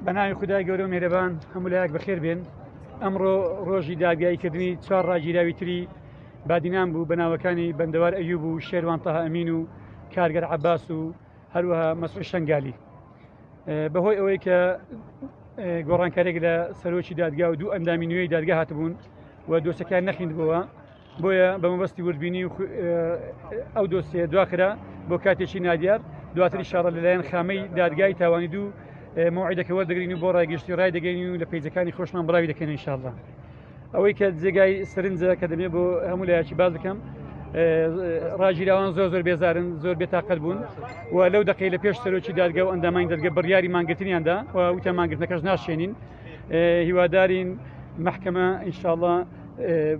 بەناوی خدای گەورە مێرەبان هەموو لایەک بەخێر بێن ئەمڕۆ ڕۆژی داگاییکردنی چوار ڕاگیراوی تری بادینان بوو بەناوەکانی بەندەوار ئەیوب و شێروان تەهامین و کارگەر عباس و هەروەها مەسعود شنگالی بەهۆی ئەوەی کە گۆڕانکارێک لە سەرۆکی دادگا و دوو ئەندامی نوێی دادگا هاتبوون و دۆسەکان نەخیندبووە بۆیە بە مەبەستی وردبینی و ئەو دۆسیە دواخرا بۆ کاتێکی نادیار دواتری شارە لەلایەن خامەی دادگای تاوانی دوو مۆعیدەکە وەردەگرین و بۆ ڕایگەشتی ڕای دەگەین و لە پیجەکانی خۆشمان بڵاوی دەکەن انشاءالله ئەوەی کە جێگای سرنجە کە دەبێت بۆ هەموو لایەکی باز بکەم ڕاگیراوان زۆر زۆر بێزارن زۆر بێتاقەت بوون و لەو دقی لە پێش سەرۆکی دادگە و ئەندامانی دەرگە بڕیاری مانگرتنیاندا و وتە مانگرتنەکەش ناشێنین هیوادارین محکمە انشاءله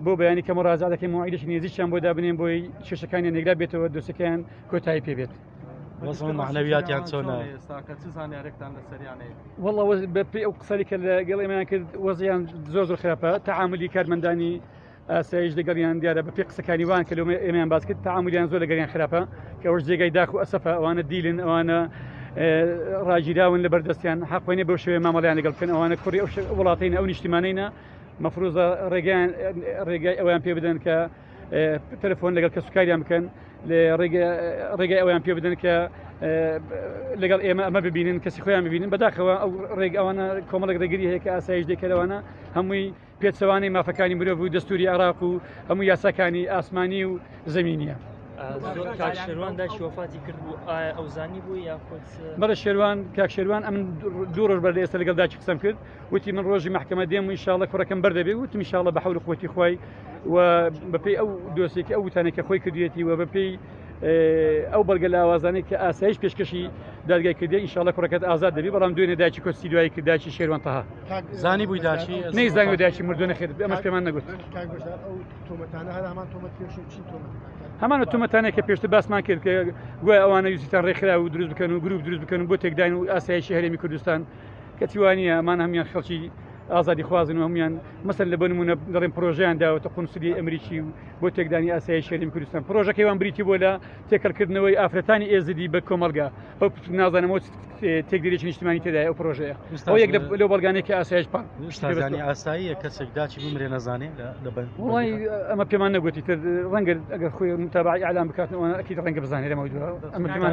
بۆ بەیانی کە مڕازا دەکەین موعیدێکی نێزیشیان بۆ دابنێن بۆی کێشەکانی نێگرا بێتەوە دۆسەکەیان کۆتایی پێبێت. معنەویاتیان چۆنە وڵ بە پێ ئەو قسەری کە لە گەڵ ئێمەیان کرد وەزیان زۆر زۆر خراپە تعاملی کارمەندانی ئاسایش دەگەڵیان دیارە بە پێ قسەکانی وان کە لەمە ئێمیان باز کرد تعاملیان زۆر لەگەریان خراپە کە ئەوش جێگای داخ و ئەسەفە ئەوانە دیلن ئەوانە ڕاگیراون لە بەردەستیان حقوێنێ بەو شوێ مامەڵیان لەگەڵ بکەن ئەوانە کوڕی ئەو وڵاتین ئەو نیشتیمانینە مەفروزە ڕێگەیان ڕێگای ئەویان پێ بدەن کە تەلفۆن لەگەڵ کەسوکاریان بکەن ڕێگای ئەویان پێ بدەن کە لەگەڵ ئێمە ئەمە ببینن کەسی خۆیان ببینن بەداخەوە ئەو ڕێگەوانە کۆمەڵک ڕێگری هەیە کە ئاسایش دەکەرەوەە هەمووی پێچەوانی مافەکانی مرۆڤ و دەستوری عراق و هەموو یاساکانی ئاسمانی و زمینە. بەڵە شێوان کاک شێوان ئەم دوو ڕۆژ بەر لە ئێستا لەگەڵ داکی قسم کرد وتی من ڕۆژی مەحکەمە دێم و ئینشاڵە کوڕەکەم بەر دەبێ وتم ئینشاڵە بە حەول قوتی خوای و بەپێی ئەو دۆسێکی ئەو وتانێک کە خۆی کردوێتی و بەپێی ئەو بەڵگە لە ئاوازانێک کە ئاسایش پێشکەشی دادگای کردی ئینشاڵە کوڕەکەت ئازاد دەبی بەڵام دوێنێ داچی کۆستی دوایی کرد داچی شێروانتەها زانی بووی داشی نەی زانانی داچی مردو نەخێت ئەمەش پێمان نەگوت هەمانە تومەتانێک کە پێشتر باسمان کرد کە گوای ئەوانە یوسیتان ڕێکخرا و دروست بکەن و گروپ دروست بکەن بۆ تێکداین و ئاسایشی هەرێمی کوردستان کەچی وانیە ئەمان هەموان خەڵکی ئازادی خوازن و هەموان مەسەن لە بەنمونە دەڵێن پرۆژیان داوەتە قونسلی ئەمریکی و بۆ تێکدانی ئاسایی شەریم کوردستان پرۆژەکەیوان بریتی بۆ لە تێکەڵکردنەوەی ئافرەتانی ئێزدی بە کۆمەلگا ئەو نازانەوە تێکدرێکی نیشتمانی تێدای ئەو پرۆژەیە یەک لە بەڵگانێکی ئاسایش پا ئاساییە کەسێک داچی بمرێ نەزانێ ئەمە پێمان نەگوتی تر ڕەنگە ئەگەر خۆی متابعی ئالان بکاتنەوەکی ڕەنگە بزانێ لەمە دووە ئەمە پێمان